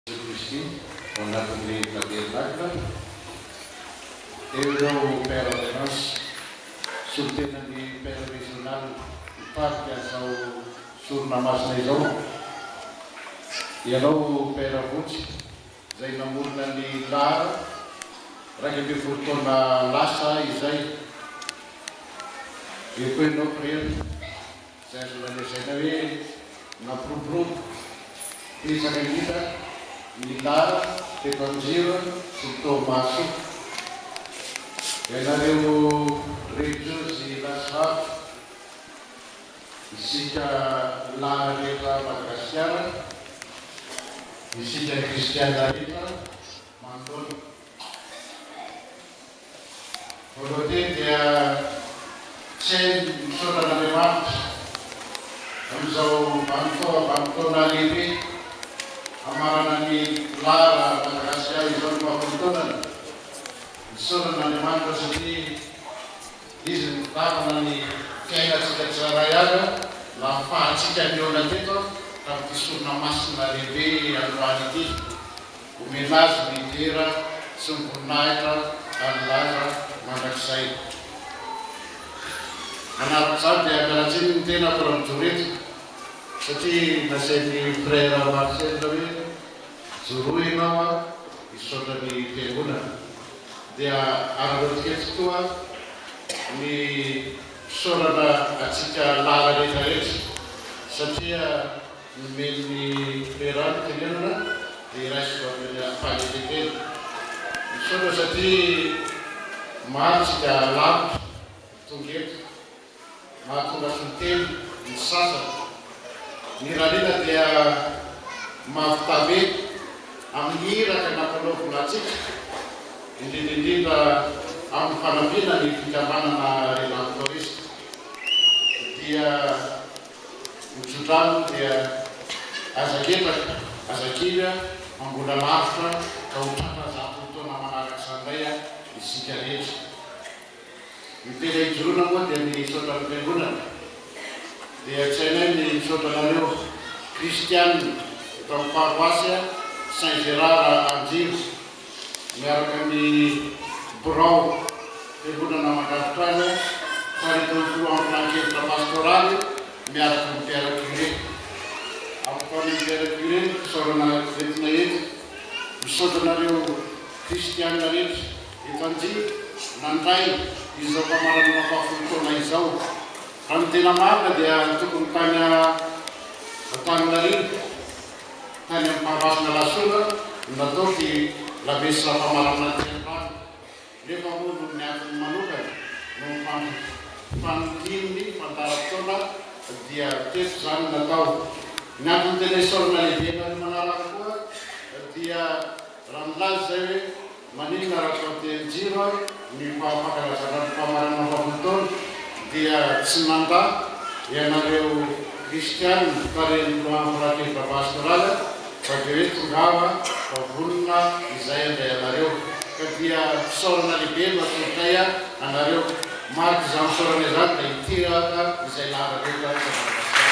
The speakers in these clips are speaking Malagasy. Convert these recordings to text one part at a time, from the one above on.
Kristy ao anatin'ny Tabernakla. Eo ireo Père en Errance, solontenan'ny Père Régional mpitarika izao sorona masina izao. Ianao Père Vonjy izay namorona ny lar iraika ambin'ny folo taona lasa izay. Ecoinopr. Izay azo lazaina hoe nampiroborobo betsaka indrindra ny lalana teto Anjiro sy Toamasina. Ianareo relijiozy latsy vavy, isika lalina rehetra Madagasikara, isika kristiana rehetra manoloana. Voalohany dia tsy hay ny misaotra an'Andriamanitra amin'izao vanim-potoana vanim-potoana lehibe hamarana ny Lara Madagasikara izao ny faha folo taonany. Misaotra an'Andriamanitra satria Izy no mpitantana ny fiainantsika tsirairay avy aho nahafahantsika nihaona teto tamin'ity sorona masina lehibe androany ity. Omena azy ny dera sy ny voninahitra hanilaza mandrakizay. Manaraka izany dia miala tsiny ny tenako raha mijoro eto satria nasain'ny Frère Marcel hoe joroa ianao a, hisaotra ny Fiangonana. Dia arahoantsika eto koa ny fisaorana antsika lahy rehetra rehetra satria. Nomeny ny toeram-ponenana ny iray sy roa ambin'ny ady fanekem-pena. Misaotra satria maro tsika lavitra tonga eto. Mahatonga fintelo ny sasany. Ny ralina dia mahavita be amin'ny iraka nampanaovina antsika, indrindra indrindra amin'ny fanampiana ny fikambanana Redan Tourist. Dia ny tso-drano dia aza ketraka, aza kivy a, mambola lavitra ka ho tratra zato taona manaraka izany indray a, isika rehetra. Ny tena hijoroana moa dia ny misaotra ny Fiangonana, dia tsy hainay ny misaotra anareo Kristianina eto amin'ny paroasy Saint Gérard Anjiro miaraka ny birao fiangonana mandrafitra azy tarihin'ny filohan'ny filankevitra pastoraly miaraka amin'ny père curé. Ampifany ny père curé ny fisaorana entina eto. Misaotra anareo kristiana rehetra eto Anjiva nandray izao famaranana fahafolo taona izao. Raha ny tena marina dia tokony tany Antaninarini. tany amin'ny Farmasinà Lasona no natao sy lamesa famaranana aty an-trano nefa moa noho ny antony manokana no nifandian'ny fandaharam-potoana dia teto izany no natao. Ny antony tena isaorana lehibe anareo manaraka koa dia raha milaza izay hoe. Maninona raha atao tehin-jiro ny faha-fankalazana ny fahamarinana valo taona dia tsy mandà ianareo kristiana tarihin'ny filohan'ny Farakely Baba Astral fa dia hoe tongava fa vonona izay handray anareo ka dia fisaorana lehibe no atolotray anareo. Mariky izany fisaorana izany dia hitiraka izay lahatra eto Madagasikara.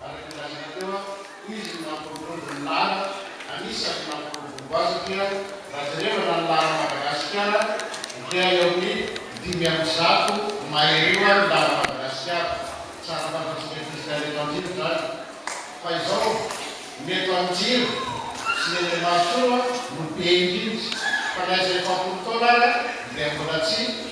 Araka ny lazaina teo an, hoy izy ny mampiroborobo ny lara, anisan ny mampiroborobo azy dia raha jerevana ny lara Madagasikara dia eo amin ny dimy amby zato mahery eo ny lara Madagasikara. Tsara fantatsika ankizy tany eto Anjibo izany. Fa izao ny eto Anjibo sy ny eny Mahasoa no be indrindra. Fa na izay efapolo taona ary dia mbola tsy.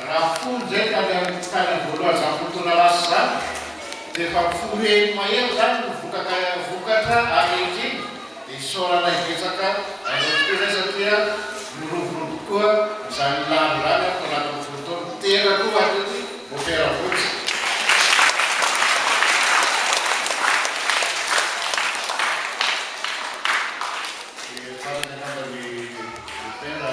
Raha folo indray ka ny tany Ambohilazampotolalasa izany dia efa folo heny mahery izany no vokaka vokatra ary ankehitriny dia isaorana hibetsaka haingana kokoa izay satria miroborobo koa izany lany izany amin'ny taonjato folo taona tena koa hatreto mopera fotsy. Dia farany angamba ny mopera